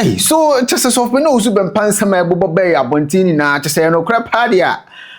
Hey, so kyɛ sɛ sɔfo na osu bɛmpa nsɛm a ɛbobɔ bɛyɛ abɔnten nyinaa kyɛ sɛ ɛyɛ nokorɛ paa deɛ a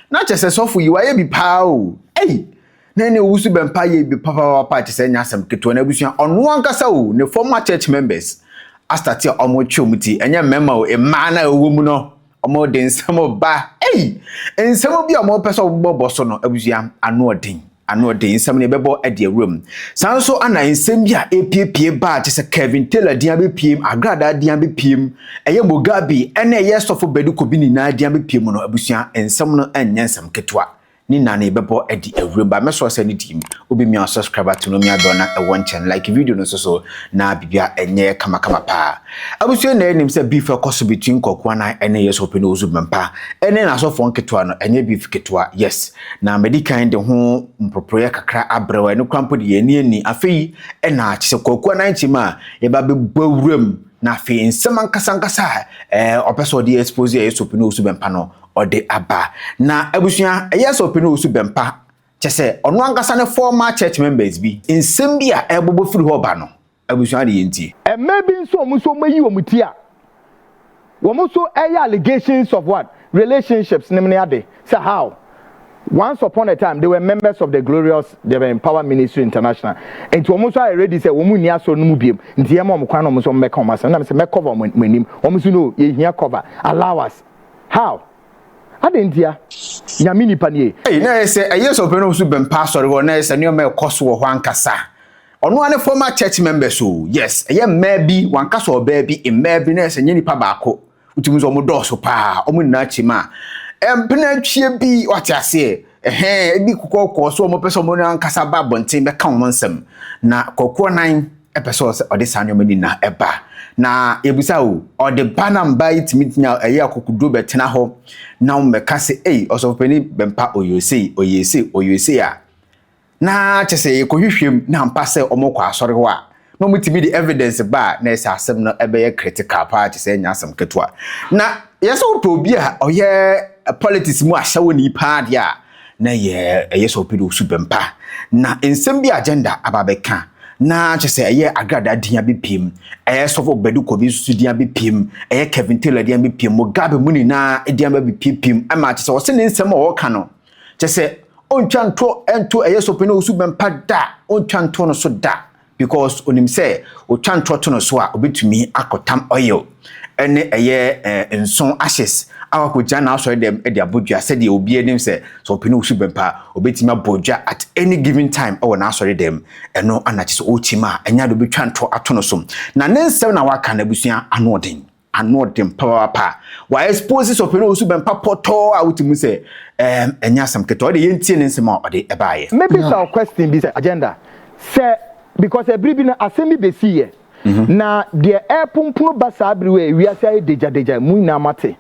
na kyɛ sɛ sɔfo yi wayɛ bi paa o ei na ɛne owusu bɛmpa yɛ bi papapapa kyɛ sɛ ɛnyɛ asɛm ketewa na abusua ɔno ankasa o ne former church members astate a wɔtwe wɔn ti ɛnyɛ mmarima o mmaa na ɛwɔ mu no Ɔmo de nsɛm ba ei! Nsɛm bi a ɔmo pɛ sɛ ɔmo bɔ bɔ so no abusua ano ɔden ano ɔden nsɛm no yɛbɛbɔ ɛde awura mu. Saa nso ana nsɛm bi a epiepie baa te sɛ Kevin Taylor din abepiem, Agradaa din abepiem, ɛyɛ Mugabe ɛna ɛyɛ Sɔfo Bedi Kobi nyinaa din abepiem no abusua nsɛm no ɛnyɛ nsɛm ketewa. ne na ne bɛbɔ adi awuram ba mɛsɔ sɛ ne team wobɛmia wo subscriber to no mia dɔ na ɛwɔ nkyɛn like video no nso so na bibia ɛnyɛ kama kama paa abusua na ɛnim sɛ beef ɛkɔ so between kɔkoa na ɛne yɛ sɔpɛ no ozu bɛmpa ɛne na asɔfoɔ nketewa no ɛnyɛ beef ketewa yes na mɛdi kan de ho mproproyɛ kakra abrɛ wɔ ɛne krampo de yɛ ani ani afei ɛna kyɛ sɛ kɔkoa na nkyɛm a yɛba bɛbɔ awuram na afei nsɛm ankasa ankasa a ɔpɛ sɛ ɔde expose yɛ sɔpɛ no ozu bɛmpa no ɔde aba. Na abusua, ɛyɛ sɛ ɔpɛ no wɔ su bɛn pa, kyɛ sɛ ɔno ankasa ne former church members bi nsɛm bi a ɛrebobɔ firi hɔ ba no, abusua de yɛn ntie. Mmaa bi nso wɔn nso wɔayi wɔn ti a wɔn nso ɛyɛ allegations of what? Relationships nom ne ade, sɛ how? Once upon a time they were members of the glorious deɛ bɛn power ministry international, nti wɔn nso ayɛ ready sɛ wɔn nni asɔre no mu biom, nti yɛma wɔn kwan na wɔn nso wɔn bɛka wɔn asɛm, ɛna me sɛ mɛ cover wɔn anim, wɔn nso no yɛhia cover, allow us. How? Adɛn ntia? Nyame nipa nie. Ei, na ɛyɛ sɛ ɛyɛ sɛ ɔpɛ no nso bɛmpa asɔre hɔ, na ɛyɛ sɛ nneɛma ɛkɔ so wɔ hɔ ankasa. Ɔno ara ne former church members o, yes, ɛyɛ mmaa bi, wanka sɛ ɔbaa bi, mmaa bi, na ɛyɛ sɛ nyɛ nipa baako. Wotumi sɛ wɔn dɔɔso paa, wɔn nyinaa kyim a, ɛmpena atwie bi, wate aseɛ. Ɛhɛɛ, ebi kokɔɔkɔɔ so wɔpɛ sɛ wɔn ankasa ba abɔnten bɛka wɔn nsɛm. Na kɔkɔɔ nan ɛpɛ sɛ ɔsɛ ɔde saa nneɛma ni na ɛba. Na yɛbisa o, ɔde ba na mba yi tumi nya ɛyɛ akokoduro bɛtena hɔ na wɔbɛka sɛ ei ɔsɔfopani bɛmpa ɔyɛ sei ɔyɛ sei ɔyɛ sei a na kyɛ sɛ yɛkɔhwehwɛ mu na ampa sɛ wɔkɔ asɔre hɔ a, na wɔtumi de evidence ba a, na ɛsɛ asɛm no bɛyɛ critical paa kyɛ sɛ ɛnyɛ asɛm ketewa. Na yɛ sɛ wopɛ obi a ɔyɛ politics mu ahyɛwoni paa deɛ a, na yɛ ɛyɛ sɛ ɔpɛ de osu bɛmpa. Na nsɛm bi agenda aba bɛka na kyɛ sɛ ɛyɛ agradaa din abɛpiem, ɛyɛ sɔfo Badu Kɔbi nso din abɛpiem, ɛyɛ Kevin Taylor din abɛpiem, Mugabe mu nyinaa din abɛpiepiem, ɛma kyɛ sɛ ɔse ne nsɛm a ɔka no, kyɛ sɛ ɔntwa nto nto ɛyɛ sɔpɛ na ɔsu bɛmpa da ɔntwa nto no so da because onim sɛ ɔtwa ntorɔ to no so a ɔbɛtumi akɔtam oil ɛne ɛyɛ eh, nson ashes a wakɔgya na asɔre dɛm de abɔ dwa sɛdeɛ obiara nim sɛ sɛ ɔpɛ ne ɔsu bɛmpa ɔbɛtumi abɔ dwa at any given time ɛwɔ n'asɔre dɛm ɛno anakye sɛ ɔrekyim a ɛnya de ɔbɛtwa ntorɔ ato no so na ne nsɛm na waka no abusua ano ɔden Anoɔden papapapa. Wa expose Sɔpɛno Owusu Bɛmpa pɔtɔɔ a wote mu sɛ ɛɛm ɛnyɛ asɛm ketewa. Ɔde yɛn tie ne nsɛm a ɔde ɛbaayɛ. Me bisa wo question bi sɛ agenda sɛ because ɛbere bi no asɛm bi bɛsii yɛ na deɛ ɛreponpono ba saa bere wei a ewiase ayɛ degyadegya mo nyinaa moate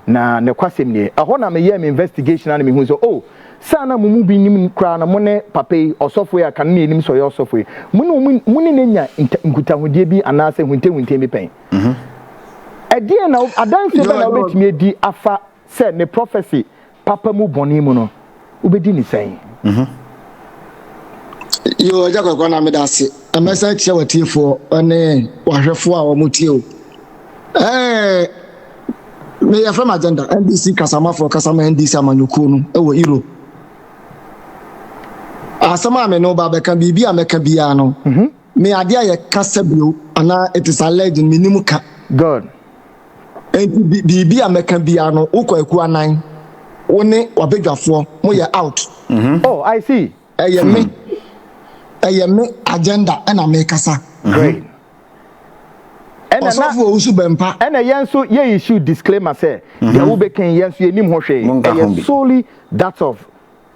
na nokwasɛm nie ɛhɔ na meyɛɛ me investigation a na mehunu sɛ oh sɛ a na mo mu bi nim koraa no mo ne papa yi ɔsɔfo yi a kane na yɛnim sɛ ɔyɛ ɔsɔfo yi mo ne wɔn mo ne no anya nkutahodie bi anaasɛ huntahunta bi pɛn. Mhm. Ɛdeɛn na wo, adanseɛ bɛn na George. wobɛtumi adi afa sɛ ne prɔfɛse papa mu bɔne mu no, wobɛdi ne sɛn? Mhm. Yo, Agya Kwaku Anaa meda ase. Na mɛsan akyia w'atiefoɔ ne w'ahwɛfoɔ a wɔtie o. Ɛɛ, me yɛfrɛ me Agenda, NDC kasamafoɔ kasa ma NDC amanyɔkuo no wɔ Europe. Asɛm a me ne wo ba bɛka, biribi a mɛka biara no, Mhm. Me adeɛ a yɛ kasa bio anaa it is alleged no me nim ka. Good. Enti bi biribi a mɛka biara no wo kɔ akuo anan wo ne wabadwafoɔ mo yɛ out. Oh I see. Ɛyɛ me ɛyɛ me agenda ɛna me kasa. Great. Ɛna na Ɔsɔfoɔ wo nso bɛmpa. Ɛna yɛn nso yɛ issue disclaimer sɛ deɛ wo bɛka yi yɛn nso yɛ nim ho hwee. Ɛyɛ solely that of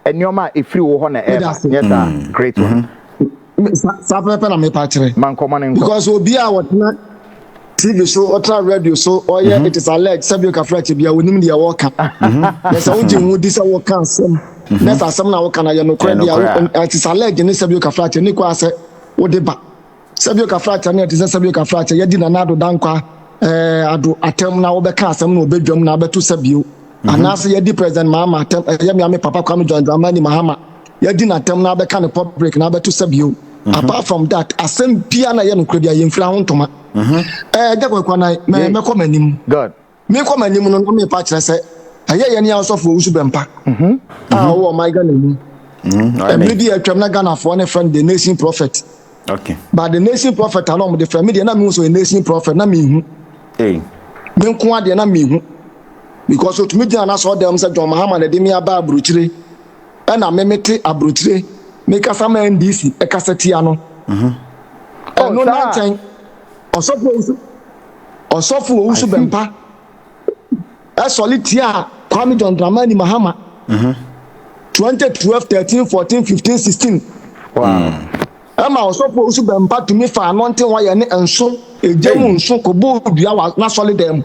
nneɛma a ɛfiri wo hɔ na ɛba nyɛ saa mm. great one mm-hmm. saa pɛpɛpɛ na mepa kyerɛ mankɔmɔ ne nkɔ because obi a wɔtena tv so ɔtena radio so ɔyɛ mm-hmm. it is alleged sɛbi okafra kyɛ bia onim deɛ wɔka mm-hmm. na sɛ wogye ho di sɛ wɔka asɛm na sɛ asɛm na wɔka na yɛ nokorɛ deɛ it is alleged ne sɛbi okafra kyɛ ne kɔ asɛ wode ba Sɛbio Kafrakyɛ no yɛ te sɛ Sɛbio Kafrakyɛ yɛdi Nana Ado Dankwa eh, Ado atɛm na wɔbɛka asɛm na wɔbɛdwam na abɛto Sɛbio mhm. anaasɛ yɛdi President Mahama atɛm ɛyɛ eh, meame Papa Kwame John Dramani Mahama yɛdi n'atɛm na abɛka ne public na abɛto Sɛbio mhm. apart from that asɛm bia na ɛyɛ nokorɛ bia yɛmfira ho ntoma mhm. eh, ɛgya kwakwanan mɛkɔ m'anim Merekɔ m'anim no, na merepa kyerɛ sɛ ɛyɛ yɛn yɛn asɔfo Owusu Bɛmpa a ɔwɔ ɔman Ghana mu. Mmere bi a atwam na Ghanafoɔ ne frɛ no The Nation Prophet. But The Nation Prophet a na wɔde frɛ me deɛ na mehu sɛ ɔyɛ Nation Prophet na mehu. Me nko adeɛ na mehu. Because otumi gyina n'asɔɔdan sɛ John Mahama na ɛde me aba aburokyire. Ɛna me mete aburokyire mekasa ma NDC ɛkasa tia no. Ɛno na nkyɛn ɔsɔfo Owusu. ɔsɔfo Owusu Bɛmpa sɔre tiaa Kwame John Dramani Mahama 2012 13 14 15 16 ɛma ɔsɔfo Owusu Bɛmpa tumi fa anɔnten wɔyɛ ne nso egya mu nso kɔbɔ dua wɔ n'asɔre dan mu.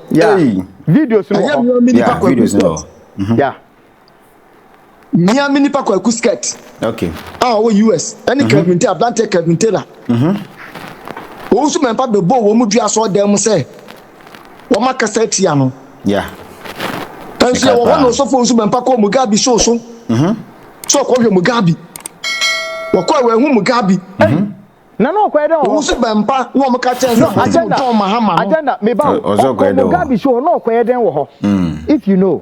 Videos no wɔ hɔ. Ɛyɛ mmea mi nipa kɔ ebi sɛ. Mia me nipa kwaku skirt okay a ɔwɔ US ɛne mhm. Kevin Taylor abranteɛ Kevin Taylor mhm. wɔn nso mɛmpa bɛbɔ wɔn mu dua asɔ dan mu sɛ wɔn akasa atia no nso yɛ wɔ hɔ na ɔsɔfo nso mɛmpa kɔ Mugabe show so mhm. so ɔkɔ hwɛ Mugabe wɔkɔ ɛwɔ ɛho Mugabe na na ɔkɔyɛ dɛ ɔwɔ wɔn nso bɛmpa na wɔn ka kyɛn sɛ wɔn ti mu tɔn mahama no agenda meba o ɔkɔ Mugabe show na ɔkɔyɛ dɛn wɔ hɔ if you know.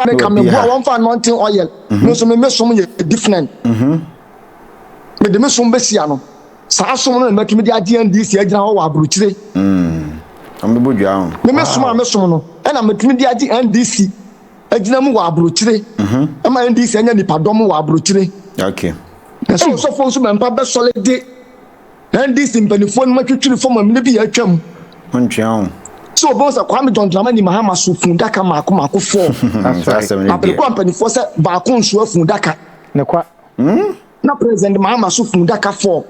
Ɔne ka me boa wɔn fa anointing oil me nso me me som yɛ different me de me som bɛ si ano saa som no na mɛtumi de agye NDC agyina hɔ wɔ aburukyire ɔmo bɔ dwa ho me me som a me som no ɛna mɛtumi de agye NDC agyina mu wɔ aburukyire ɛma NDC anya nipadɔm wɔ aburukyire okay na sɛ ɔsɔfoɔ nso mɛmpa bɛsɔre de NDC mpanimfoɔ nom atwitwiri fam amena bi a atwam. Wontwea ho. Sɛ wɔbɛhu sɛ Kwame John Dramani Mahama so fuudaka mmaako mmaako four. Na bere kɔ a mpanimfoɔ sɛ baako nsoa fuudaka. Ne kwa. Hmm? Na President Mahama so fuudaka four.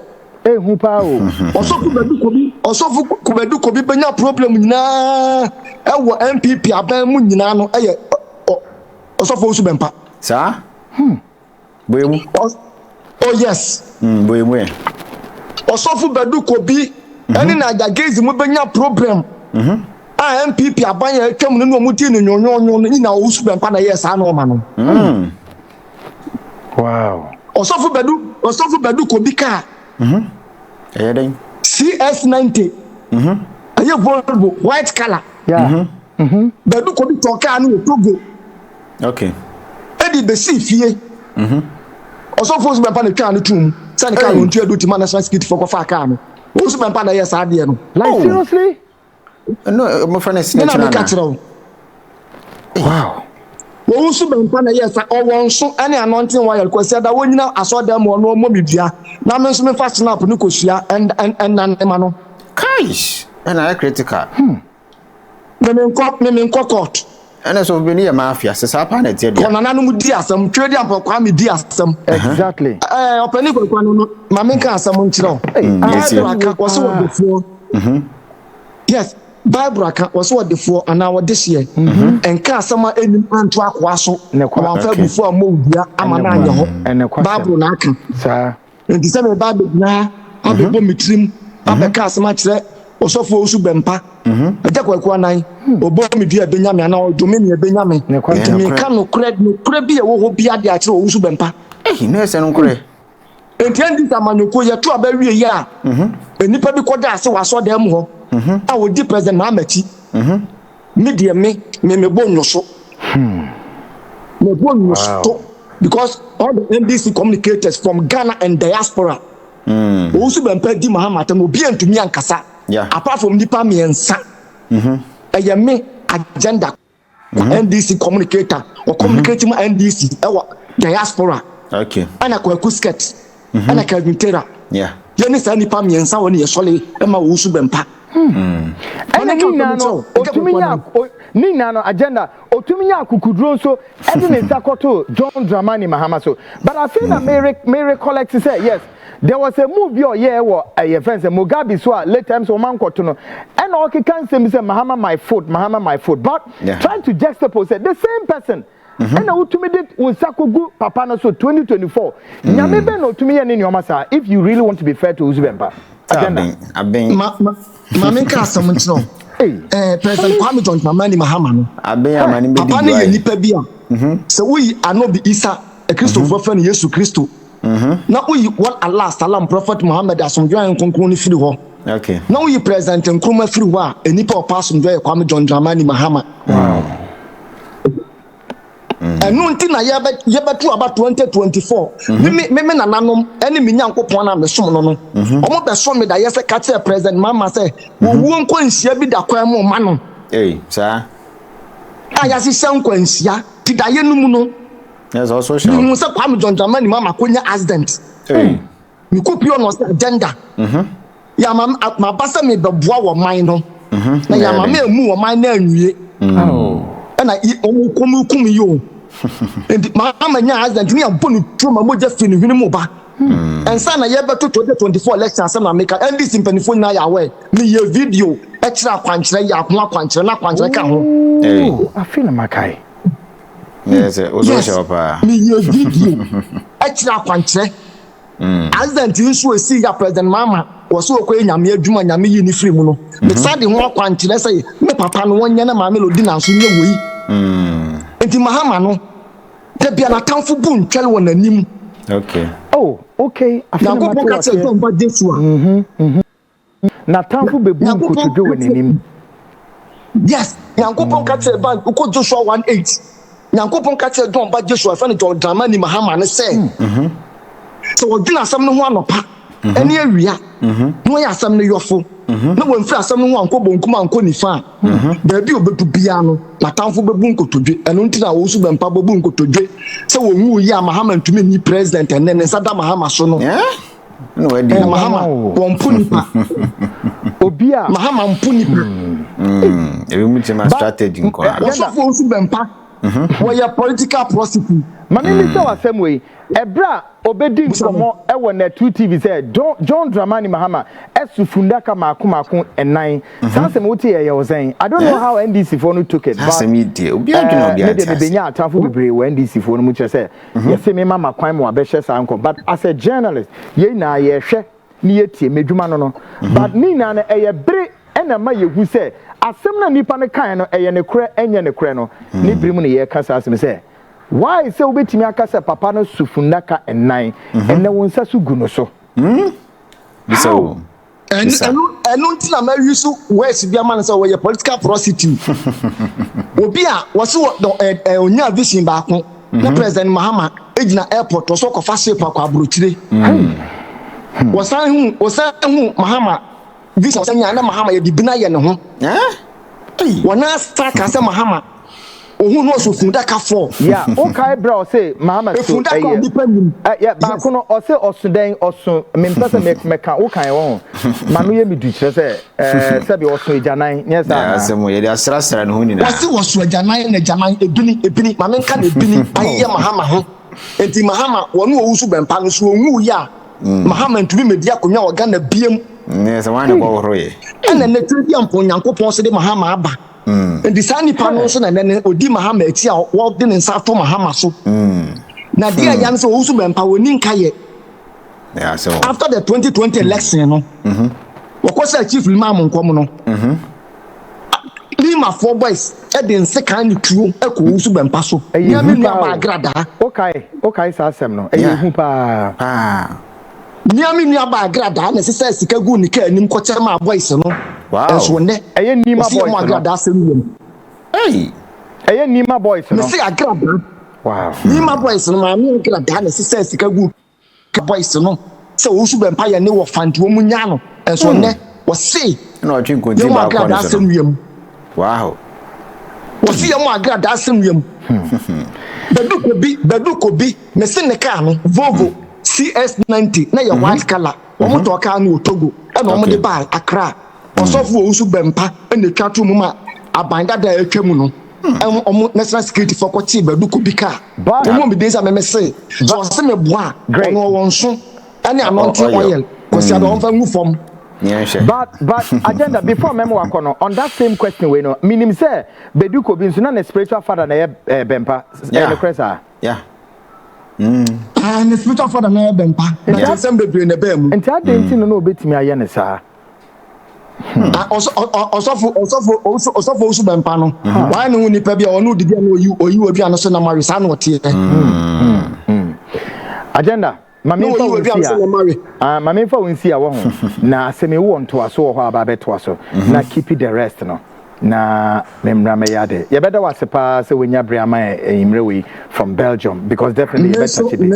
Ehu paa o. Ɔsɔfo Kubadu Kobi, ɔsɔfo Kubadu Kobi bɛnya problem nyinaa ɛwɔ NPP aban mu nyinaa no ɛyɛ ɔsɔfo Osu Bɛmpa. Saa? Hmm. Boye mu. Ɔs oh yes. Mm, boye mu ɛ. Ɔsɔfo Badu Kobi ɛne na Adjagezi mo bɛnya problem a NPP aban a atwam no ne wɔn dii no nwonwonwon no nyina Owusu Bɛmpa na ɛyɛɛ saa nɔɔma no. Wow. Ɔsɔfo Badu Ɔsɔfo Badu Kobi kaa. Ɛyɛ dɛn? CS90. Ɛyɛ Volvo white colour. Yeah. Mhm. Badu kɔbi tɔɔ kaa no wɔ Togo. Okay. Ɛde bɛsii fie. Mhm. Ɔsɔfoɔ nso bɛmpa na twaa no too mu sɛ ne kaa no ɔntua du ti ma national security foɔ kɔfaa kaa no. Wɔn nso bɛmpa na ɛyɛɛ saa adeɛ no. Like Oh. seriously? Ɛno a wɔfrɛ no Me snitch na no meka anaa? kyerɛ wo. Wow. Wɔn nso bɛmpa na ɛyɛɛ saa. Ɔwɔ nso ɛne anointing oil Kwasi Ada wɔnyina asɔɔdan mu ɔno ɔmmɔ me dua na me nso mefa snap no kɔsua ɛn- ɛn- ɛnna ne ma no. Kaish! Ɛna ayɛ critical. Me me nkɔ, me me nkɔ court. Ɛne so beni yɛ mafia se saa paa na ɛteɛ deɛ. Kɔ nananom di asɛm, Twedi Ampɔn Kwame di asɛm. Exactly. Ɛɛ ɔpɛni Kwaku no no ma me nka asɛm nkyerɛ wo. Bible aka wɔse ɔdefoɔ. Yes Bible aka wɔse ɔdefoɔ anaa ɔdehyeɛ ɛnka asɛm a ɛnim anto akoa so na wamfa abufuo ammɔ wo dua ama no anyɛ hɔ. Bible na aka. Enti sɛ mereba abɛgyina ha abɛbɔ me tirim abɛka asɛm akyerɛ ɔsɔfoɔ Owusu Bɛmpa, Agya Kwaku Anan, ɔbɔ me dua ɛbɛnya me anaa ɔdome me ɛbɛnya me. Enti mereka nokorɛ, nokorɛ bi a ɛwɔ hɔ biara de akyerɛ Owusu Bɛmpa. Ei, na ɛsɛ nokorɛ. Enti ɛnde sɛ amanyɔkuo yi ɛto aba wie yɛ a, nnipa bi kɔda ase wɔ asɔrdan mu hɔ a wɔdi President Mahama akyi. Me deɛ me me me bɔ nyoso. Hmm. Me bɔ nyoso wow. because all the NDC communicators from Ghana and diaspora. Hmm. Wɔn nso bɛn pɛ di Mahama atɛm obi ntumi ankasa. Yeah. Apart from nipa mmiɛnsa. Mhm. Ɛyɛ me agenda. Mhm. NDC communicator. Wɔ communicate mu NDC ɛwɔ diaspora. Okay. Ɛna kwaku skirt. mm-hmm. ɛna Kelvin Taylor yɛne saa nnipa mmiɛnsa wɔ ne yɛsɔre ma wɔwusu bɛmpa hmm. ɛna ne nyinaa no ɔtumi nya ne nyinaa no agenda ɔtumi nya akukuduro nso ɛde ne nsa kɔto John Dramani Mahama so but afei na mm-hmm. me recollect sɛ yes there was a move bi a ɔyɛɛ wɔ ɛyɛ fɛn sɛ Mugabe so a late times wɔn ankɔto no ɛna ɔkeka nsɛm bi sɛ Mahama my foot Mahama my foot but yeah. trying to juxtapose sɛ the same person ɛna wotumi de wo nsa kogu papa no so 2024 mm. nyame bɛn na ɔtumi yɛ ne nneɔma saa if you really want to be fair to wosu bɛmpa agenda ma menka asɛm nkyerɛ eh, president kwame john dramani mahama no papa no yɛ nnipa bi a mhm. sɛ woyi anobi isa kristofoɔ mhm. fɛ no yesu kristo na oyi wɔn Allah Salam Prophet Muhammad Asomdwoe ne Nkronkron no firi hɔ, na oyi President Nkrumah firi hɔ a nnipa a ɔpɛ asomdwoe yɛ Kwame John Dramani Mahama. Ɛno nti na yɛbɛto aba 2024, me me me me nananom ne me Nyankopɔn a mesom no no, wɔbɛsɔ me daeɛ sɛ ka kyerɛ President Mahama sɛ ɔwuo nkwanhyia bi da kwan mu rema no. Ei, saa. A yɛahyehyɛ nkwanhyia ti daeɛ no mu no. Yes, I also shall. Mihu sɛ Kwame John Dramani ma ma konya accident. Hey. Mi ko pio na ɔsɛ agenda. Mhm. Ya ma ma ba sɛ mi bɛ boa wɔ man no. Mhm. Na ya ma mi emu wɔ man na anwie. Mm. Oh. Ɛna yi ɔmo kɔm kum yi o. Nti ma ma nya accident ni abɔ ne tuo ma mogya fi ne hwene mu ba. Hmm. Ɛnsa na yɛ bɛ to 2024 election asɛm na meka NDC mpanyinfoɔ nyinaa yɛ aware. Mi yɛ video ɛkyerɛ akwankyerɛ yɛ ho akwankyerɛ na akwankyerɛ ka ho. Hey. Afi na makae. Yes, eh, also yes. Papa. Me ye video. Actually, I can't say. Accident in so see ya President Mama was so okay. Nyame adwuma nyame yi ni free mu no. Me mm-hmm. sad ho akwankyerɛ sɛ me papa no wɔnyɛ na maame lodi nanso nyɛ wɔ yi. Mm. Nti mahama no da bia na tamfo bu ntwɛre wɔ n'anim. Okay. Oh, okay. Nyankopɔn ka sɛ ɛdɔn ba Jesu a. Mm-hmm, mm-hmm. N'atamfo bebu nkotodwe wɔ n'anim. Yes, Nyankopɔn ka kyerɛ ban wokɔ Joshua 1:8. Nyankopɔn ka kyerɛ John ba Joshua ɛfɛ no John Dramani Mahama no sɛ hmm, mhm. sɛ wɔdwene asɛm no ho anɔpa mhm. ne awia mhm. na wɔyɛ asɛm no yɔfo na wɔmfiri asɛm no ho ankɔ bonkum ankɔ nifa a baabi a ɔbɛdu biara no n'atamfo bɛbu nkotodwe ɛno nti na wɔn so bɛmpa bɛbu nkotodwe sɛ wɔn wu yi a Mahama ntumi nni president ɛnɛ ne nsa da Mahama so no. na wadi eh, mahama wɔmpo nipa obi a mahama mpo nipa hmm, hmm. ebi mu kyɛ ma strategy nkɔ ara wɔsɔfo nso bɛmpa mhm. wɔyɛ political prosecutor maame mi sɛ wasɛm wei ɛbrɛ a obedi nkɔmɔ ɛwɔ nɛtu tv sɛ john john dramani mahama ɛso fundaka mako mako ɛnan mhm. saa asɛm wote yɛ yɛ ɔsɛn i don't know eh? how ndc foɔ no took it but ɛɛ ne deɛ mebɛnya atamfo bebree wɔ ndc foɔ no mu kyerɛ sɛ mhm. yɛse me ma makwan ma wabɛhyɛ saa nkɔ but as a journalist yɛn nyinaa yɛhwɛ ne yɛtie m'adwuma no no mhm. but ne nyinaa no ɛyɛ bere ɛna ma yɛhu sɛ asɛm no nnipa no kae no ɛyɛ ne korɛ ɛnyɛ ne korɛ no mhm. ne bere mu no yɛka saa asɛm sɛ why sɛ wobɛtumi aka sɛ papa no sufunnaka nnan ɛnɛ wo nsa so gu no so how bisa. ɛno nti na mayi so words bi ama no sɛ wɔyɛ political prostitute obi a wɔse ɔnyaa vision baako na mhm. president mahama gyina airport ɔsɛ ɔkɔfa ship akɔ aburokyire hmm. hmm. wɔsan hu mahama vision wɔsan nyaa na mahama yɛde bina yɛ ne ho eh? Wɔn ara san kaa sɛ Mahama ohun no ɔsɛ fundaka fɔ. Yeah wo kae berɛ a ɔse Mahama so ɛyɛ. Efundaka a nipa nim. Ɛyɛ baako no ɔse ɔso dɛn ɔso me mpɛ sɛ me me ka wo kae wɔho ma no yɛ me du kyerɛ sɛ ɛɛ sɛbi ɔso agyanan nyɛ saa anaa. Asɛm o yɛde asra sra ne ho nyinaa. Ɔse ɔso agyanan na agyanan ebini ebini ma me nka na ebini ayeyɛ Mahama ho nti Mahama wɔne ɔwu so bɛmpa no so ɔnwuuiɛ a. Mm. Mahama ntumi medi akonnwa wɔ Ghana biam. Mm, yes, mm. ɛna nnɛ tiri bi ampɔ Nyankopɔn so de Mahama aba mm. nti saa nipa no nso na nnɛ no ɔdi Mahama akyi a wɔde ne nsa ato Mahama so na deɛ ɛya no sɛ ɔwusu bɛmpa wɔni nka yɛ after the 2020 election no mm-hmm. wɔkɔ sɛ chief limam nkɔm no mm-hmm. Limafoɔ boys de nsekan ne tuo kɔ wo so bɛmpa so. Ɛyɛ hu paa o. Mia me nua baa agradaa. Wokae, wokae saa asɛm no. Ɛyɛ yeah. hu paa. Paa. Mia me nua baa agradaa na ɛsesa sika gu ne kaa anim kɔkyɛ maa boys no. Wow. Ɛnso nnɛ. Ɛyɛ nima boys no. Ɔsi yɛ mo agradaa asɛm yɛ mu. Hey. Ɛyɛ nima boys no. Mesi agradaa. Wow. Nima boys no maame agradaa na ɛsesa sika gu. ka boys no sɛ ɔwusu bɛ mpa yɛ ne wɔ fund wɔn mu nyaa no nso hmm. ɔnɛ wɔse yɛ mu agra daa sɛ nua mu wɔse yɛ mu agra daa sɛ nua mu bɛdu kobi bɛdu kobi me se ne kaa no volvo hmm. cs90 na yɛ hmm. white color wɔn tɔ kaa no wɔ togo ɛna wɔn de baa akra. Ɔsɔfo owu so bɛ mpa na etwa to mu ma aban dada a etwa mu no ɛho ɔmo national security fo kɔ tee bɛdu kɔ bi kaa wɔn mu biden sɛ meme se sɛ ɔse me boa a ɔno ɔwɔ nso ɛne anɔnte oil kwasi ada ɔmfa ngu fam. But but agenda before mɛma wakɔ no on that same question wei no menim sɛ bɛdu kɔ bi nso na ne spiritual father na ɛyɛ bɛmpa ɛyɛ nokorɛ saa. Aane ne spiritual father na ɛyɛ bɛmpa na nsɛm bebree na ɛbaa mu. Nti adɛn nti no na ɔbɛtumi ayɛ no saa. Hmm. Ah, ɔsɔfo ɔsɔfo ɔsɔfo osu bɛmpa no hmm. wɔayɛ ne ho nipa bi a ɔne odidi a na oyi oyi obi ano so nam awe saa na ɔteɛ. Hmm. agenda maame nfa wo nsi a maame nfa wo nsi a wɔ ho na asɛm ewu wɔ ntoaso wɔ hɔ a ba bɛtoa so na keep the rest no. na me mmra mɛyɛ ade yɛbɛda wo ase paa sɛ wonya bere ama enyimmerɛ wei from belgium because definitely yɛbɛtache bi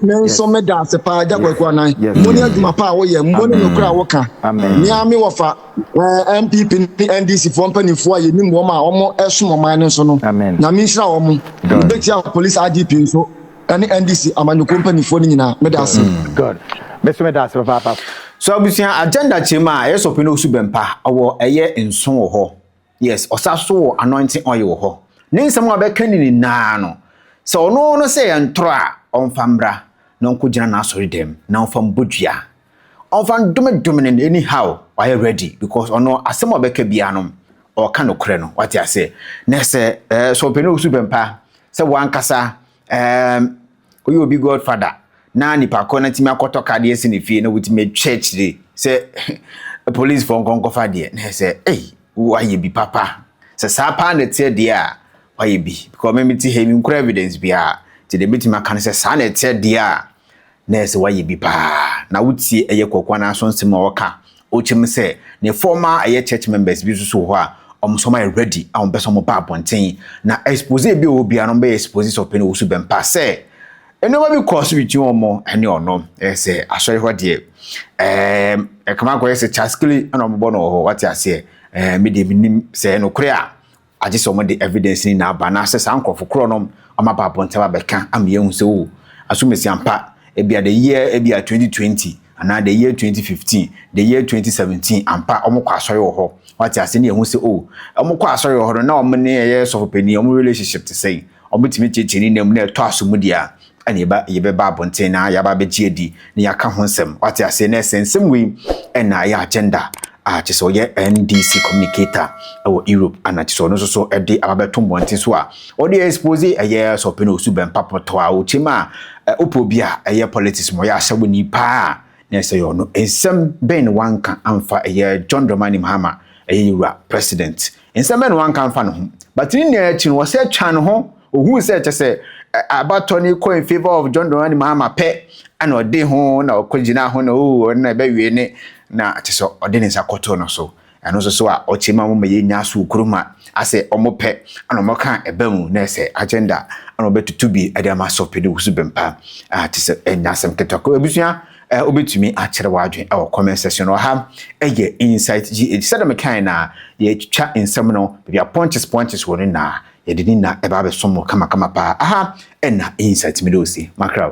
menso meda ase paa agya kwaku anan mo ne adwuma paa woyɛ mo ne nokora a woka mea me wɔfa eh, mpp ne ndc foɔ mpanimfoɔ a yɛnim wɔm a wɔn ɛsom ɔman no nso no nyame nhyira wɔn wobɛtia police idp nso ɛne NDC amanyɔkuo mpanimfoɔ no nyinaa. Meda ase. Mm, good. Me so meda ase papaapa. So abusua agenda kyerɛ mu a ɛyɛ sɔpe na osu bɛmpa wɔ ɛyɛ nso wɔ hɔ. Yes, ɔsa so wɔ anointing oil wɔ hɔ. Ne nsɛm a ɔbɛka ne nyinaa no, sɛ ɔno no sɛ yɛn toro a, ɔmfa mmra na ɔnkɔgyina n'asɔredam na ɔmfa mbɔ dua. ɔmfa ndome dome no anyhow wayɛ ready because ɔno asɛm a ɔbɛka biara no ɔka nokorɛ no wate aseɛ na sɛ ɛɛ sɛ ɔpɛ no ɔsu bɛmpa sɛ wankasa ɛɛm woyɛ obi godfather na nipa koro no tumi akɔtɔ ka deɛ si ne fie na wotumi atwa akyire sɛ police fɔ nkɔnkɔfa deɛ na sɛ ei wayɛ bi papa sɛ saa paa na ɛteɛ deɛ a wayɛ bi because meme te ha mi nkura evidence biara nti deɛ mɛtumi aka no sɛ saa na ɛteɛ deɛ a na ɛsɛ wayɛ bi paa na wotie ɛyɛ kɔkɔa no aso nsɛm a ɔka ɔkyɛm sɛ ne former ɛyɛ church members bi nso so wɔ hɔ a wɔn sɔm ayɛ ready a wɔn pɛ sɛ wɔn ba abɔnten na expose bi a ɔwɔ biara no bɛyɛ expose sɛ ɔpɛ no ɔwɔ so bɛmpa sɛ nneɛma bi kɔɔ so between wɔn ɛne ɔno ɛyɛ sɛ asɔre hɔ deɛ ɛɛm ɛkama akɔyɛ sɛ kyaskele ɛna wɔn bɔ no wɔ hɔ wate aseɛ ɛɛ mi deɛ mi nim sɛ ɛnokorɛ a Agye sɛ wɔde evidence no nyinaa ba anaasɛ saa nkorɔfo korɔ no wɔn aba abɔnten abɛka ama yɛahu sɛ oh asomasi ampa ebia the year ebia 2020 anaa the year 2015 the year 2017 ampa wɔn kɔ asɔre wɔ hɔ wate ase ne yɛhu sɛ oh wɔn kɔ asɔre wɔ hɔ no na wɔn ne ɛyɛ sɔfo panyin wɔn relationship te sɛn wɔn betumi kyekyere ne nam na ɛtɔ aso mu deɛ a ɛna yɛba yɛbɛba abɔnten na yɛaba abɛgye adi na yɛaka ho nsɛm wate aseɛ na ɛsɛ nsɛm wei ɛna ɛyɛ agenda a kyɛ sɛ ɔyɛ NDC communicator ɛwɔ Europe ana kyɛ sɛ ɔno nso so ɛde aba bɛto mmɔnten so a ɔde expose ɛyɛ sɛ ɔpɛ na ɔsu bɛmpa pɔtɔ a ɔkyɛm a wopɔ bi a ɛyɛ politics ma ɔyɛ ahyɛwo ni paa a na ɛsɛ yɛ ɔno nsɛm bɛn na wanka amfa ɛyɛ John Dramani Mahama ɛyɛ yɛwura president Nsɛm bɛn na wanka amfa ne ho? But ne nyinaa akyi no, ɔsɛ twa ne ho, ohuu sɛ kyɛ sɛ abatɔ no kɔ in favour of John Dramani Mahama pɛ, ɛna ɔde ho na ɔkɔgyina ho na oo ɔno na ɛbɛwie ne na kyɛ sɛ ɔde ne nsa kɔtoo no so. Ɛno nso so a ɔkyɛ ma mo ma yɛnya aso kuruma asɛ ɔmo pɛ ɛna ɔmo ka ɛba mu na ɛsɛ agenda ɛna ɔbɛtutu bi ɛde ama so pede wusu bɛmpa a kyɛ sɛ ɛnya asɛm ketewa kɔ abusua Eh, wobɛtumi akyerɛ w'adwene wɔ comment section no. Ɔha yɛ Insight GH. Sɛdeɛ mekae na yɛtwa nsɛm no, baabi a punches punches wɔ no na yɛde ne na ɛba abɛsom mo kamakama paa. Aha ɛna Insight mede ɔsi makraw.